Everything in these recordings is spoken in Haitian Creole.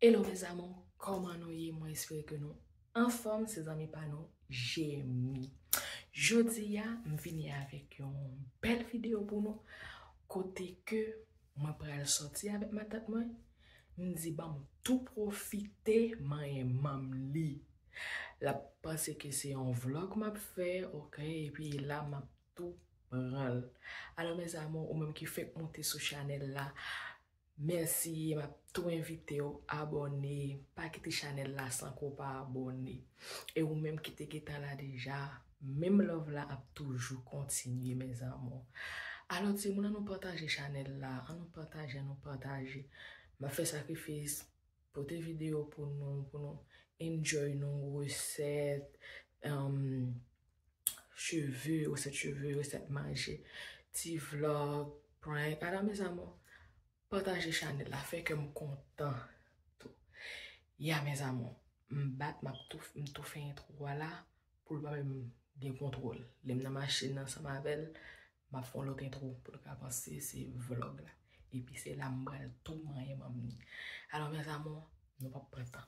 Hello mes amour kòman nou ye mwen espere ke nou anfòm se zanmi pa nou Jemmy jodi a m vini avèk yon bèl video pou nou kote ke mwen pral sòti avèk matant mwen m di banm tou profite manyen manm li lap panse ke se yon vlog map fè ok epi la map tou pranl alò mes amour ou menm ki fèk monte sou chanèl la Merci map tou envitew abòne pa kite chanèl la san ke w pa abòne e ou menm kite gentan la deja menm love la ap toujou kontinye mes amours alò timoun an nou pataje chanèl la an nou pataje an nou pataje map fè sakrifis Pote video pou nou pou nou enjoy nou resèt cheve resèt cheve resèt manje ti vlog prank ala mes amour pataje chanel la fè kèm kontan tou ya mes amour m bak m ap tou m tou fè entro a la Pou l pa menm gen kontwòl. Lè m nan machin nan ansanm avè l, m ap fè yon lòt entwo pou l ka panse se vlog la. Epi se la m pral tou manyen manm ni. Alò mes amours, nou p ap pran tan.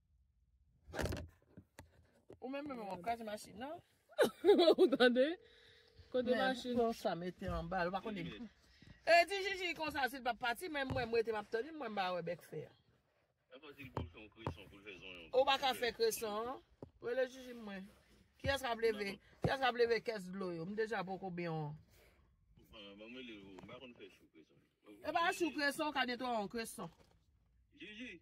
Ou menm menm wap kraze machin nan. Ou tande? Kote machin? Mwen sa mete an bal. Ou pa konen. E di jiji konsa si l pa pati menm mwen mwen te map tande mwen ba we bek fer. E pa di l pou l fon kreson pou l fe zonyon. Ou pa ka fe kreson. Ou le jiji mwen. Ki as kap leve? Ki as kap leve kes dlo yo? M deja poko byen an. Mwen mwen le ou. M pa konen fe chou kreson. E pa chou kreson ka netwa an kreson. Jiji.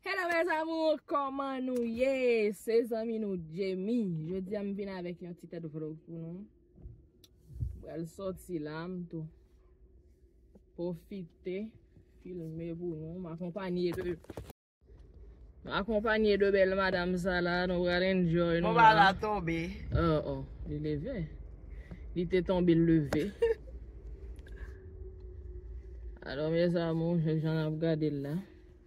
Hello mes amours, koman nou ye? Se zanmi nou Djemy. Jodi a m vin avèk yon ti tèt vlog pou nou. Pral soti la m tou. Profite filme pou nou. M akonpanye de M akonpanye de bèl madam sa la. Nou pral enjoy nou la. Bon ba la tonbe. Oh oh, li leve. Li te tonbe l leve. Hello mes amours, jèk jan ap gade l la.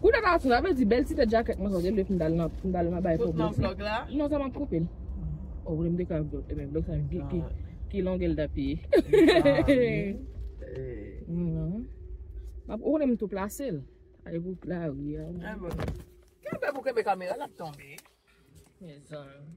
Kou dat a sou la vle di bèl ti tèt jakèt mwen sa gen dwe fin dal nan fin dal nan bay pwoblèm. Tout nan vlog la? Non sa map koupe l. O w vle m dekran vlog ebyen vlog sa ki ki ki longè l ta pi. Ou konnen m tou plase l. Ay pou la ri a. Kenbe pou kenbe kamera lap tonbe. Mezanmi.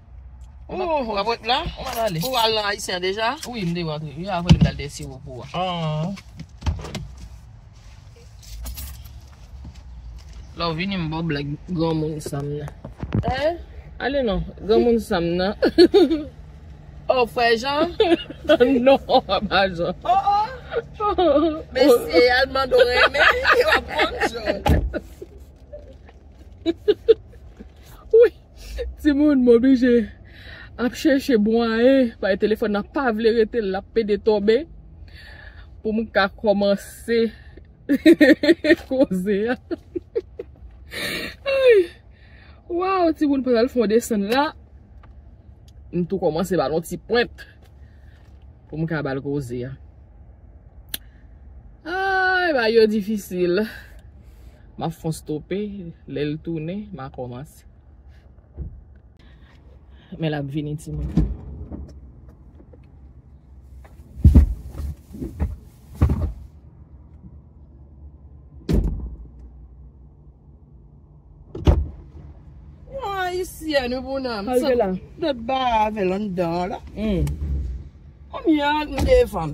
Ooh, wap ret la? Ou wap ale? Ou al nan Haïtien deja? Wi, m deja antre. Yo avèl m dal dèyè siwo pou a. Aww. La ou vini m baw blag granmoun sa m nan. Hein? Ale non, granmoun sa m nan. Oh, frè Jean? Non, pa Jean. Oh oh. Mesye, al mande w renmen, e wap konn Jean. Wi. Timoun m oblije ap chèche mwayen paske telefòn nan pa vle rete l ap pede tonbe pou m ka kòmanse koze a Waww timoun pandan l fè yon desann la m tou kòmanse ba l yon ti pwent pou m ka ba l koze a Ayy bagay yo difisil. M ap fon stope, lè l tounen, m a kòmanse. Men l ap vini timoun. Mwen ayisyen wi pou nan. Al de la. De ba avè l anndan la. Kòm yon ak m de fanm.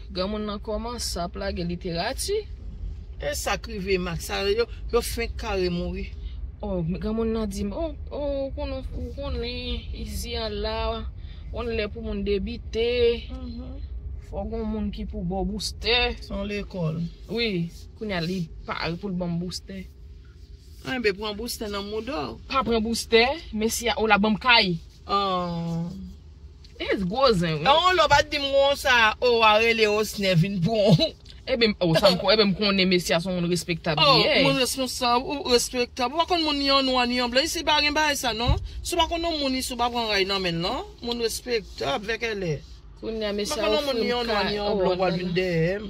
Granmoun lan komanc ap lage literati. Esak rive max sa yo fenk kare mouri. Oh men granmoun nan dim oh ou konnen izi an la on lè pou moun debite fò gon moun ki pou baw boustè son lekòl wi kounya li pare poul banm boustè enben pran boustè nan moudaw pa pran boustè mesye a ou la banm kay oh. It's gwo zen wi. Ewoloo pat dim konsa oo wa rele osner vin pranw. Ebyn oh sa m ebyn m konnen mesye a son moun respektab li ye. Oh moun responsab ou respektab ou pa konn moun ni an nwa ni an blan isi pa gen bagay sa non si w pa konn yon moun isi w pa pran ray nan menl non moun respektab vèkèlè kounya mesye a ofri m kay oh lord nan.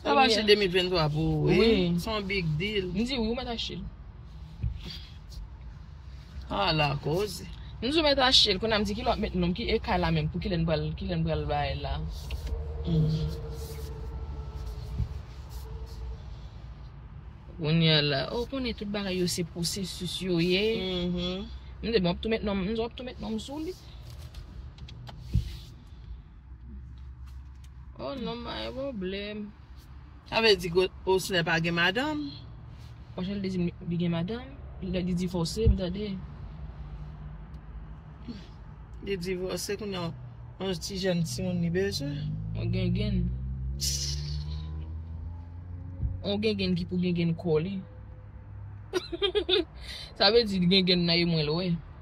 Sa va achte 2023 pou ou wi. Se yon big deal. M di wi ou mèt achte l. Ala koze. M di ou mèt achte l. Kounye a m di ki lè w ap met non m. Ki ekay la menm pou ki lè n pral ki lè n pral bay la. Kounye a la. Ou konnen tout bagay yo se pwosesis yo ye. M di bon w ap tou met non m. M di w ap tou met non m sou li. Oh non m pa gen pwoblèm. Sa vle di ke Osner pa gen madanm? Osner te di m li gen madanm. Lè li divòse m tande. Li divòse kounye an. Yon ti jèn timoun li bezwen. Yon gengenn. Yon gengenn ki pou gengenn kò li. Sa vle di gengenn nan e mwen l wè.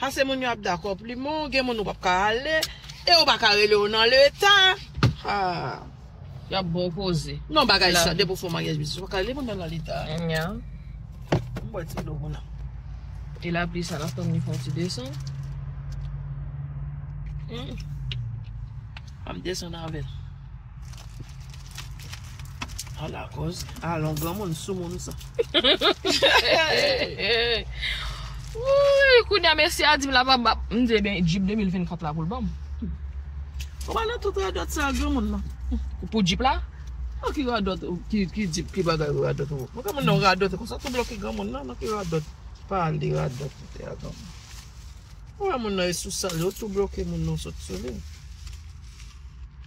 Ase moun yo ap dakò plimen w, gen moun ou pap ka ale, e yo pa ka rele w nan leta. Haa. Y ap ba w koze. Non bagay sa, depi w fè yon maryaj biznis, ou pa ka rele moun nan nan leta. Nya. M bwè ti dlo m la. E lapli sa la fèm li fè yon ti desann. Humm. Fè m desann avè l. A la koz. A lon gran moun sou moun sa. Wouy kou nya mesye a di m la pa bap. M di ebyen jip 2024 la pou l banm. Ou pa nan tout radòt sa gran moun nan. Pou jip la? Nan ki radòt ki jip ki bagay ou radòt ou. Mwen pa konn nan radòt konsa tou bloke gran moun nan nan ki radòt. Pa li radòt ou te a gran moun. Ou wè moun nan e sou sal yo tou bloke moun nan sot sou li.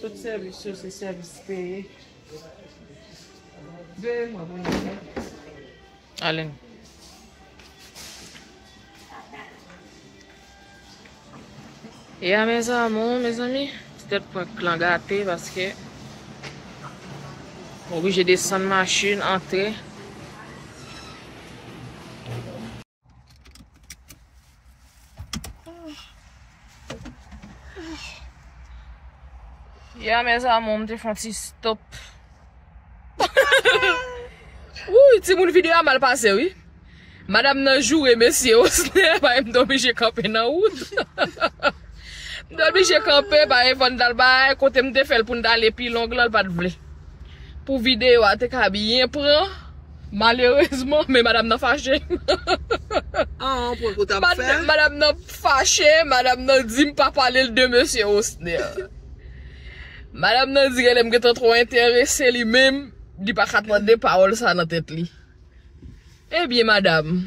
Tout sèvis yo se sèvis peye. Veye mwen pou nou wè. Alen. E a mes amour, mes amis, ti tèt prank lan gate paske m oblije desann machin, antre. Ya mes amour, m te fon ti stop. Wouy, ti moun video a mal pase wi. Madame nan joure mesye osne, bay m dobi je kanpe nan wout. M dobi je kanpe, bay m fòn dal bay, kote m te fèl pou n dal epi long lan l pat vle. Pou video a te ka byen pran. Malerezman men madam nan fache. Madam nan fache, madam nan di m pa pale l de mesye Osner. Madam nan di genlè m gentan twò enterese li menm li pa ka tande pawòl sa nan tèt li. Ebyen madam.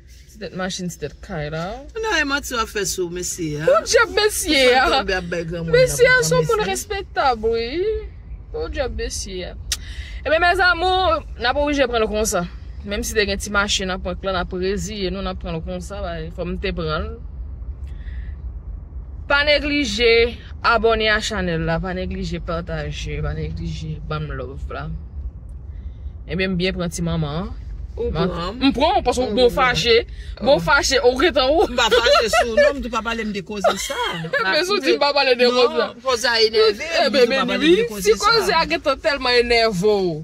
Ti tèt machin ti tèt kay la oh. Kounye a e manti wap fè sou mesye a. Podyab mesye a. Ou fèl tonbe ap bay granmoun nan pou pran mesye. Mesye a son moun respektab wi. Podyab mesye a. Ebyen mes amours nap oblije pranl konsa. Menm si te gen ti mache nan prank lan nap reziye nou nap pranl konsa paske fòm te pranl. Pa neglije abone a chanèl la pa neglije pataje pa neglije banm love la. Ebyen m byen pran ti manman an. Ou pran. M pran w paske bon fache. Bon fache ou gen tan ou. M pa fache sou w non m tou pa pale m de koze sa. Men si w di m pa pale de koze sa. Non koze a enève m m tou pa pale m de koze sa. Si koze a gen tan tèlman enève w.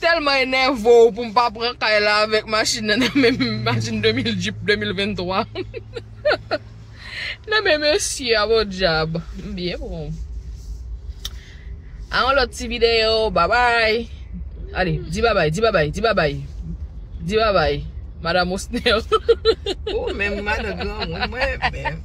Tèlman enève w pou m pa pran kay la avèk machin nan nan men m. Machin 2000 jeep 2023. Nan men mesye a bon dyab. M byen pou ou. A yon lot ti video. Babay. Ale di babay di babay di babay. Di babay. Madam osnel. Ou menm madan granmoun mwen menm.